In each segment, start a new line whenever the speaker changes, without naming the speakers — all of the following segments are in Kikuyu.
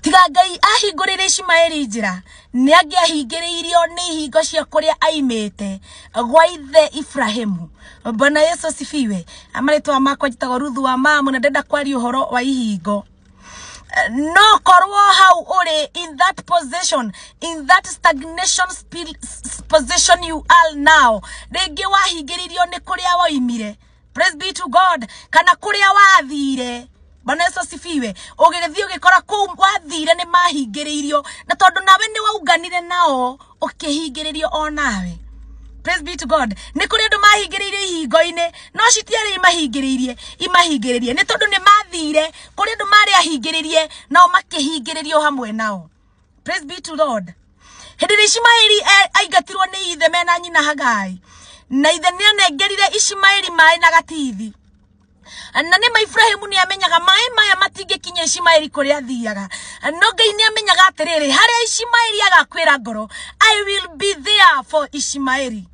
tiga ngai ahingũrĩre ishimaeli njĩra nĩ angĩahingĩrĩirio nĩ ihingo cia kũrĩa aimĩte gwa ithe ibrahimu mbona yesu asifiwe amarĩtwa makwa njĩtagwo ruthu wa mamu na ndenda kwaria ũhoro wa ihingo no korwo hau ũrĩ in that position in that stagnation spi- s- position you are now rĩngĩ wahingĩrĩirio nĩ kũrĩa woimire praise be to god kana kũrĩa wathire bwana yesu asifiwe ũgĩgĩthiĩ ũgĩkora kũu wathire nĩ mahingĩrĩirio na tondũ nawe nĩ waunganire nao ũkĩhingĩrĩrio o nawe praise be to god nĩ kũrĩ andũ mahingĩrĩirio ihingo-inĩ no citiarĩ imahingĩrĩirie imahingĩrĩrie nĩ tondũ nĩ mathire kũrĩ andũ marĩ ahingĩrĩrie nao makĩhingĩrĩrio hamwe nao praise be to lord hĩndĩ ĩrĩa ishimaeli e- aingatirwo nĩ ithe mena nyina hagai na ithe nĩ anengerire ishimaeli maĩ na gatithi na nĩ ma Ibrahimu nĩ amenyaga maĩ maya matingĩkinya Ishimaeli kũrĩa athiaga no Ngai nĩ amenyaga atĩrĩrĩ harĩa Ishimaeli agakwĩra ngoro I will be there for Ishimaeli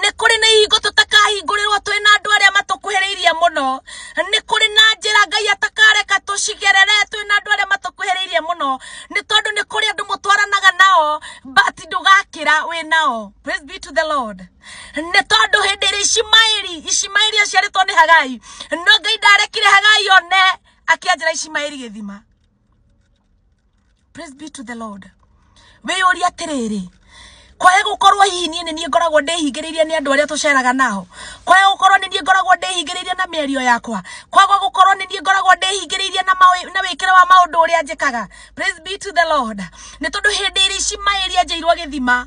nĩ kũrĩ na ihingo tũtakahingũrĩrwo twĩ na andũ arĩa matũkuhĩrĩirie mũno nĩ kũrĩ na njĩra ngai atakareka tũcigerere twĩ na andũ arĩa matũkuhĩrĩirie mũno nĩ tondũ nĩ kũrĩ andũ mũtwaranaga nao but ndũgakĩra wĩ nao praise be to the lord nĩ tondũ hĩndĩ ĩrĩa ishimaeli ishimaeli aciarĩtwo nĩ hagai no ngai ndarekire hagai one akĩanjĩra ishimaeli gĩthima praise be to the lord wĩyũria atĩrĩrĩ kwae gũkorwo hihi niĩ nĩ niĩ ngoragwo ndĩhingĩrĩirie nĩ andũ arĩa tũceraga nao kwae gũkorwo nĩ niĩ ngoragwo ndĩhingĩrĩirie na mĩario yakwa kwaga gũkorwo nĩ niĩ ngoragwo ndĩhingĩrĩirie na maũ- na wĩkĩre wa maũndũ ũrĩa njĩkaga praise be to the lord nĩ tondũ hĩndĩ ĩrĩa ici maĩ iria njĩirwo gĩthima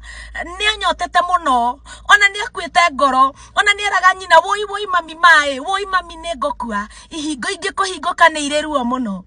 nĩ anyotete mũno ona nĩ akuĩte ngoro ona nĩ eraga nyina woi woi mami maĩ woi mami nĩ ngũkua ihingo ingĩ kũhingũka nĩ irĩ ruo mũno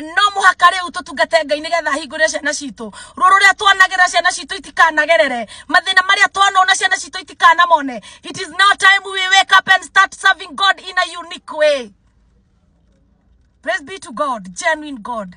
no mũhaka rĩu tũtungate ngai nĩgetha ahingũre ciana citũ ruo rũrĩa twanagĩra ciana citũ itikanagerere mathĩna marĩa twanona ciana citũ itikanamone it is now time we wake up and start serving god in a unique way praise be to god genuine god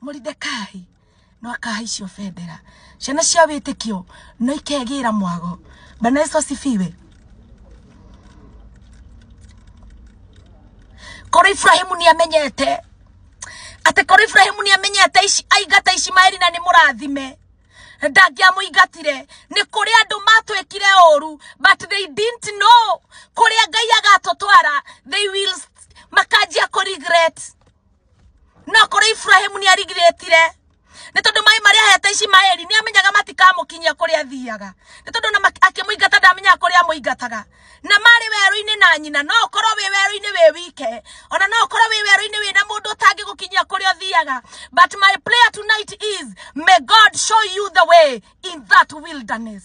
Moridekai no akahaicio bendera ciana cia wĩtĩkio no ikegĩra mwago bana yesu asifiwe korwo iburahimu nĩ amenyete atĩ korwo iburahimu nĩ amenyete ici- aingata ishimaeli na nĩ mũrathime ndangĩamũingatire nĩ kũrĩ andũ matwĩkire ũru but they didn't know kũrĩa ngai agatũtwara they will makanjia kũ regret no kuri Ibrahim ni arigiretire ni tondu mai mari ahete Ishimaeli ni amenyaga matikamukinyia kuri athiaga ni tondu na akimuingata ndamenyaga kuri amuingataga na mari weru-ini na nyina no korwo wi weru-ini wi wike ona no korwo wi weru-ini wi na mundu utangigukinyia kuri uthiaga but my prayer tonight is may God show you the way in that wilderness